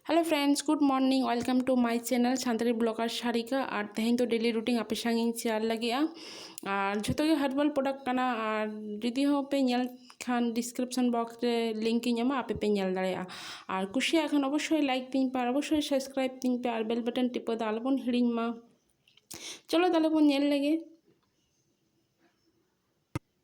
hello friends good morning welcome to my channel Santali blogger Sarika ᱟᱨ ᱛᱮᱦᱮᱧ ᱫᱚ ᱰᱮᱞᱤ ᱨᱩᱴᱤᱱ ᱟᱯᱮ ᱥᱟᱝ ᱤᱧ ᱥᱮᱭᱟᱨ ᱞᱟᱹᱜᱤᱫᱼᱟ ᱟᱨ ᱡᱷᱚᱛᱚ ᱜᱮ ᱦᱟᱨᱵᱟᱞ ᱯᱨᱚᱰᱟᱠᱴ ᱠᱟᱱᱟ ᱟᱨ ᱡᱩᱫᱤ ᱦᱚᱸ ᱯᱮ ᱧᱮᱞ ᱠᱷᱟᱱ ᱰᱤᱥᱠᱨᱤᱯᱥᱚᱱ ᱵᱚᱠᱥ ᱨᱮ ᱞᱤᱝᱠ ᱤᱧ ᱮᱢᱟ ᱟᱯᱮ ᱯᱮ ᱧᱮᱞ ᱫᱟᱲᱮᱭᱟᱜᱼᱟ ᱟᱨ ᱠᱩᱥᱤᱭᱟᱜ ᱠᱷᱟᱱ ᱚᱵᱚᱥᱥᱳᱭ ᱞᱟᱭᱤᱠ ᱛᱤᱧ ᱯᱮ ᱟᱨ ᱚᱵᱚᱥᱥᱳᱭ ᱥᱟᱵᱥᱠᱨᱟᱭᱤᱵ ᱛᱤᱧ ᱯᱮ ᱟᱨ ᱵᱮᱞ ᱵᱟᱴᱚᱱ ᱴᱤᱯᱟᱹ ᱫᱚ ᱟᱞᱚᱵᱚᱱ ᱦᱤᱲᱤᱧ ᱢᱟ ᱪᱚᱞᱚ ᱛᱟᱦᱞᱮ ᱵᱚᱱ ᱧᱮᱞ ᱞᱮᱜᱮ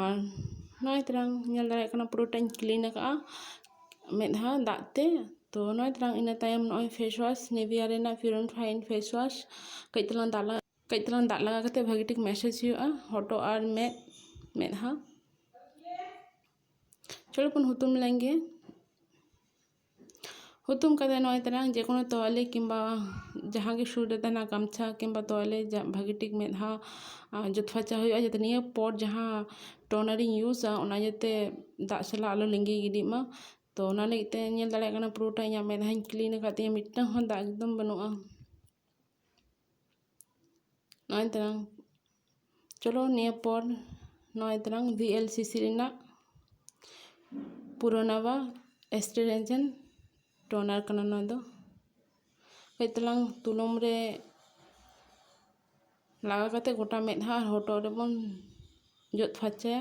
ᱟᱨ ᱱᱚᱜᱼᱚᱭ ᱛᱟᱞᱟᱝ ᱧᱮᱞ ᱫᱟᱲᱮᱭᱟᱜ ᱠᱟᱱᱟ ᱯᱩᱨᱟᱹᱴᱟᱧ ᱠᱞᱤᱱ ᱟᱠᱟᱫᱼᱟ ᱢᱤᱫ ᱫᱷᱟᱣ ᱫᱟᱜ ᱛᱮ ᱛᱳ ᱱᱚᱜᱼᱚᱭ ᱛᱟᱞᱟᱝ ᱤᱱᱟᱹ ᱛᱟᱭᱚᱢ ᱱᱚᱜᱼᱚᱭ ᱯᱷᱮᱥ ᱚᱣᱟᱥ ᱱᱤᱵᱷᱤᱭᱟ ᱨᱮᱱᱟᱜ pure and fine face wash ᱠᱟᱹᱡ ᱛᱟᱞᱟᱝ ᱫᱟᱜ ᱞᱟᱜᱟᱣ ᱠᱟᱹᱡ ᱛᱟᱞᱟᱝ ᱫᱟᱜ ᱞᱟᱜᱟᱣ ᱠᱟᱛᱮᱫ ᱵᱷᱟᱹᱜᱤ ᱴᱷᱤᱠ ᱢᱮᱥᱮᱡᱽ ᱦᱩᱭᱩᱜᱼᱟ ᱦᱚᱴᱚᱜ ᱟᱨ ᱢᱮᱫ ᱢᱮᱫᱦᱟ ᱪᱚᱞᱚ ᱵᱚᱱ ᱦᱩᱛᱩᱢ ᱞᱮᱱᱜᱮ ᱦᱩᱛᱩᱢ ᱠᱟᱛᱮ ᱱᱚᱜᱼᱚᱭ ᱛᱟᱨᱟᱝ ᱡᱮᱠᱳᱱᱳ ᱛᱚᱣᱟᱞᱮ ᱠᱤᱢᱵᱟ ᱡᱟᱦᱟᱸ ᱜᱮ ᱥᱩᱨ ᱨᱮ ᱛᱟᱦᱮᱱᱟ ᱜᱟᱢᱪᱷᱟ ᱠᱤᱢᱵᱟ ᱛᱚᱣᱟᱞᱮ ᱵᱷᱟᱹᱜᱤ ᱴᱷᱤᱠ ᱢᱮᱫ ᱦᱟᱸ ᱡᱚᱫ ᱯᱷᱟᱨᱪᱟ ᱦᱩᱭᱩᱜᱼᱟ ᱡᱟᱛᱮ ᱱᱤᱭᱟᱹ ᱯᱚᱨ ᱡᱟᱦᱟᱸ ᱴᱳᱱᱟᱨᱤᱧ ᱤᱭᱩᱡᱟ ᱚᱱᱟ ᱡᱟᱛᱮ ᱫᱟᱜ ᱥᱟᱞᱟᱜ ᱟᱞᱚ ᱞᱤᱸᱜᱤ ᱜᱤᱰᱤᱜ ᱢᱟ ᱛᱚ ᱚᱱᱟ ᱞᱟᱹᱜᱤᱫ ᱛᱮ ᱧᱮᱞ ᱫᱟᱲᱮᱭᱟᱜ ᱠᱟᱱᱟ ᱯᱩᱨᱟᱹᱴᱟ ᱤᱧᱟᱹᱜ ᱢᱮᱫᱦᱟᱧ ᱠᱞᱤᱱ ᱟᱠᱟᱫ ᱛᱤᱧᱟᱹ ᱢᱤᱫᱴᱟᱝ ᱦᱚᱸ ᱫᱟᱜ ᱮᱠᱫᱚᱢ ᱵᱟᱹᱱᱩᱜᱼᱟ ᱱᱚᱜᱼᱚᱭ ᱛᱟᱨᱟᱝ ᱪᱚᱞᱚ ᱱᱤᱭᱟᱹ ᱯᱚᱨ ᱱᱚᱜᱼᱚᱭ ᱛᱟᱨᱟᱝ ᱵᱷᱤ ᱮᱞ ᱥᱤ ᱥᱤ ᱨᱮᱱᱟᱜ ᱯᱩᱨᱟᱱᱟᱵᱟ ᱮᱥᱴᱮᱨᱮᱡᱮᱱ ᱴᱳᱱᱟᱨ ᱠᱟᱱᱟ ᱱᱚᱣᱟ ᱫᱚ ᱠᱟᱹᱡ ᱛᱟᱞᱟᱝ ᱛᱩᱞᱟᱹᱢ ᱨᱮ ᱞᱟᱜᱟᱣ ᱠᱟᱛᱮ ᱜᱚᱴᱟ ᱢᱮᱫᱦᱟ ᱟᱨ ᱦᱚᱴᱚᱜ ᱨᱮᱵᱚᱱ ᱡᱚᱫ ᱯᱷᱟᱨᱪᱟᱭᱟ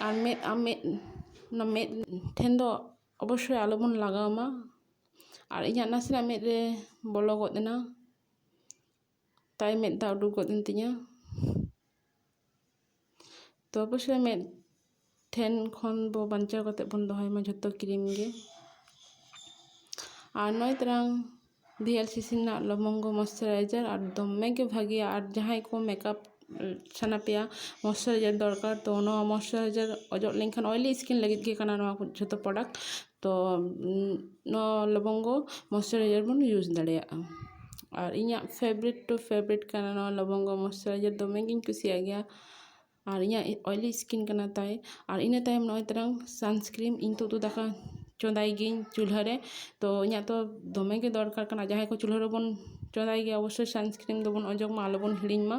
ᱟᱨ ᱢᱮᱫ ᱟᱢ ᱢᱮᱫ ᱚᱱᱟ ᱢᱮᱫ ᱴᱷᱮᱱ ᱫᱚ ᱚᱵᱚᱥᱥᱳᱭ ᱟᱞᱚ ᱵᱚᱱ ᱞᱟᱜᱟᱣ ᱢᱟ ᱟᱨ ᱤᱧᱟᱹᱜ ᱱᱟᱥᱮᱱᱟᱜ ᱢᱮᱫ ᱨᱮ ᱵᱚᱞᱚ ᱜᱚᱫ ᱮᱱᱟ ᱛᱟᱭ ᱢᱮᱫ ᱫᱟᱜ ᱩᱰᱩᱠ ᱜᱚᱫ ᱮᱱ ᱛᱤᱧᱟᱹ ᱛᱚ ᱚᱵᱚᱥᱥᱳᱭ ᱢᱮᱫ ᱴᱷᱮᱱ ᱠᱷᱚᱱ ᱵᱚ ᱵᱟᱧᱪᱟᱣ ᱠᱟᱛᱮ ᱵᱚᱱ ᱫᱚᱦᱚᱭ ᱢᱟ ᱡᱷᱚᱛᱚ ᱠᱨᱤᱢ ᱜᱮ ᱟᱨ ᱱᱚᱜᱼᱚᱭ ᱛᱟᱨᱟᱝ ᱵᱷᱤ ᱮᱞ ᱥᱤ ᱥᱤ ᱨᱮᱱᱟᱜ ᱞᱚᱵᱚᱝᱜᱚ ᱢᱚᱥᱴᱩᱨᱟᱭᱡᱟᱨ ᱟᱨ ᱫᱚᱢᱮ ᱜᱮ ᱵᱷᱟᱹᱜᱤᱭᱟ ᱟᱨ ᱡᱟᱦᱟᱸᱭ ᱠᱚ ᱢᱮᱠᱟᱯ ᱥᱟᱱᱟ ᱯᱮᱭᱟ ᱢᱚᱥᱴᱩᱨᱟᱭᱡᱟᱨ ᱫᱚᱨᱠᱟᱨ ᱛᱚ ᱱᱚᱣᱟ ᱢᱚᱥᱴᱩᱨᱟᱭᱡᱟᱨ ᱚᱡᱚᱜ ᱞᱮᱱᱠᱷᱟᱱ ᱚᱭᱮᱞᱤ ᱥᱠᱤᱱ ᱞᱟᱹᱜᱤᱫ ᱜᱮ ᱠᱟᱱᱟ ᱱᱚᱣᱟ ᱠᱚ ᱡᱷᱚᱛᱚ ᱯᱨᱚᱰᱟᱠᱴ ᱛᱚ ᱱᱚᱣᱟ ᱞᱚᱵᱚᱝᱜᱚ ᱢᱚᱥᱴᱩᱨᱟᱭᱡᱟᱨ ᱵᱚᱱ ᱤᱭᱩᱡᱽ ᱫᱟᱲᱮᱭᱟᱜᱼᱟ ᱟᱨ ᱤᱧᱟᱹᱜ ᱯᱷᱮᱵᱟᱨᱤᱴ ᱴᱩ ᱯᱷᱮᱵᱟᱨᱤᱴ ᱠᱟᱱᱟ ᱱᱚᱣᱟ ᱞᱚᱵᱚᱝᱜᱚ ᱢᱚᱥᱴᱩᱨᱟᱭᱡᱟᱨ ᱫᱚᱢᱮ ᱜᱤᱧ ᱠᱩᱥᱤᱭᱟᱜ ᱜᱮᱭᱟ ᱟᱨ ᱤᱧᱟᱹᱜ ᱚᱭᱞᱤ ᱥᱠᱤᱱ ᱠᱟᱱᱟ ᱛᱟᱭ ᱟᱨ ᱤᱱᱟᱹ ᱛᱟᱭᱚᱢ ᱱᱚᱜᱼᱚᱭ ᱛᱚᱨᱟᱝ ᱥᱟᱱᱥᱠᱨᱤᱱ ᱤᱧ ᱛᱚ ᱩᱛᱩ ᱫᱟᱠᱟ ᱪᱚᱸᱫᱟᱭ ᱜᱤᱭᱟᱹᱧ ᱪᱩᱞᱦᱟᱹ ᱨᱮ ᱛᱚ ᱤᱧᱟᱹᱜ ᱛᱚ ᱫᱚᱢᱮ ᱜᱮ ᱫᱚᱨᱠᱟᱨ ᱠᱟᱱᱟ ᱡᱟᱦᱟᱸᱭ ᱠᱚ ᱪᱩᱞᱦᱟᱹ ᱨᱮᱵᱚᱱ ᱪᱚᱸᱫᱟᱭ ᱜᱮᱭᱟ ᱚᱵᱚᱥᱥᱳᱭ ᱥᱟᱱᱥᱠᱨᱤᱱ ᱫᱚᱵᱚᱱ ᱚᱡᱚᱜᱽ ᱢᱟ ᱟᱞᱚᱵᱚᱱ ᱦᱤᱲᱤᱧ ᱢᱟ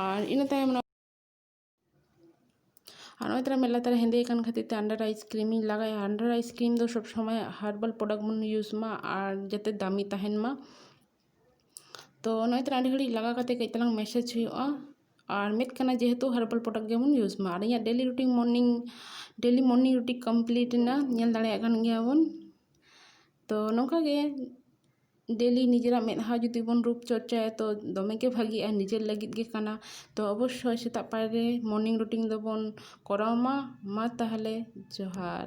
ᱟᱨ ᱤᱱᱟᱹ ᱛᱟᱭᱚᱢ ᱱᱚᱜᱼᱚᱭ ᱟᱨ ᱱᱚᱜᱼᱚᱭ ᱛᱟᱨᱟ ᱢᱮᱫ ᱞᱟᱛᱟᱨ ᱨᱮ ᱦᱮᱸᱫᱮ ᱠᱟᱱ ᱠᱷᱟᱹᱛᱤᱨ ᱛᱮ ᱟᱱᱰᱟᱨ ᱟᱭᱤᱥ ᱠᱨᱤᱢᱤᱧ ᱞᱟᱜᱟᱭᱟ ᱟᱱᱰᱟᱨ ᱟᱭᱤᱥ ᱠᱨᱤᱢ ᱫᱚ ᱥᱚᱵᱽ ᱥᱚᱢᱚᱭ ᱦᱟᱨᱵᱟᱞ ᱯᱨᱚᱰᱟᱠᱴ ᱵᱚᱱ ᱤᱭᱩᱡᱽ ᱢᱟ ᱟᱨ ᱡᱟᱛᱮ ᱫᱟᱹᱢᱤ ᱛᱟᱦᱮᱱ ᱢᱟ ᱛᱚ ᱚᱱᱟ ᱠᱷᱟᱹᱛᱤᱨ ᱟᱹᱰᱤ ᱜᱷᱟᱹᱲᱤᱡ ᱞᱟᱜᱟᱣ ᱠᱟᱛᱮ ᱠᱟᱹᱡ ᱪᱟᱞᱟᱝ ᱢᱮᱥᱮᱡᱽ ᱦᱩᱭᱩᱜᱼᱟ ᱟᱨ ᱢᱮᱱᱮᱫ ᱠᱟᱱᱟᱭ ᱡᱮᱦᱮᱛᱩ ᱦᱟᱨᱵᱟᱞ ᱯᱨᱚᱰᱟᱠᱴ ᱜᱮᱵᱚᱱ ᱤᱭᱩᱡᱽ ᱢᱟ ᱟᱨ ᱤᱧᱟᱹᱜ daily routine morning daily morning routine complete ᱮᱱᱟ ᱧᱮᱞ ᱫᱟᱲᱮᱭᱟᱜ ᱠᱟᱱ ᱜᱮᱭᱟ ᱵᱚᱱ ᱛᱚ ᱱᱚᱝᱠᱟ ᱜᱮ ᱰᱮᱞᱤ ᱱᱤᱡᱮᱨᱟᱜ ᱢᱮᱫᱦᱟ ᱡᱩᱫᱤ ᱵᱚᱱ ᱨᱩᱯ ᱪᱚᱨᱪᱟᱭᱟ ᱛᱚ ᱫᱚᱢᱮ ᱜᱮ ᱵᱷᱟᱹᱜᱤᱜᱼᱟ ᱱᱤᱡᱮᱨ ᱞᱟᱹᱜᱤᱫ ᱜᱮ ᱠᱟᱱᱟ ᱛᱚ ᱚᱵᱚᱥᱥᱳᱭ ᱥᱮᱛᱟᱜ ᱯᱟᱭᱟᱨ ᱨᱮ ᱢᱚᱨᱱᱤᱝ ᱨᱩᱴᱤᱱ ᱫᱚᱵᱚᱱ ᱠᱚᱨᱟᱣ ᱢᱟ ᱢᱟ ᱛᱟᱦᱚᱞᱮ ᱡᱚᱦᱟᱨ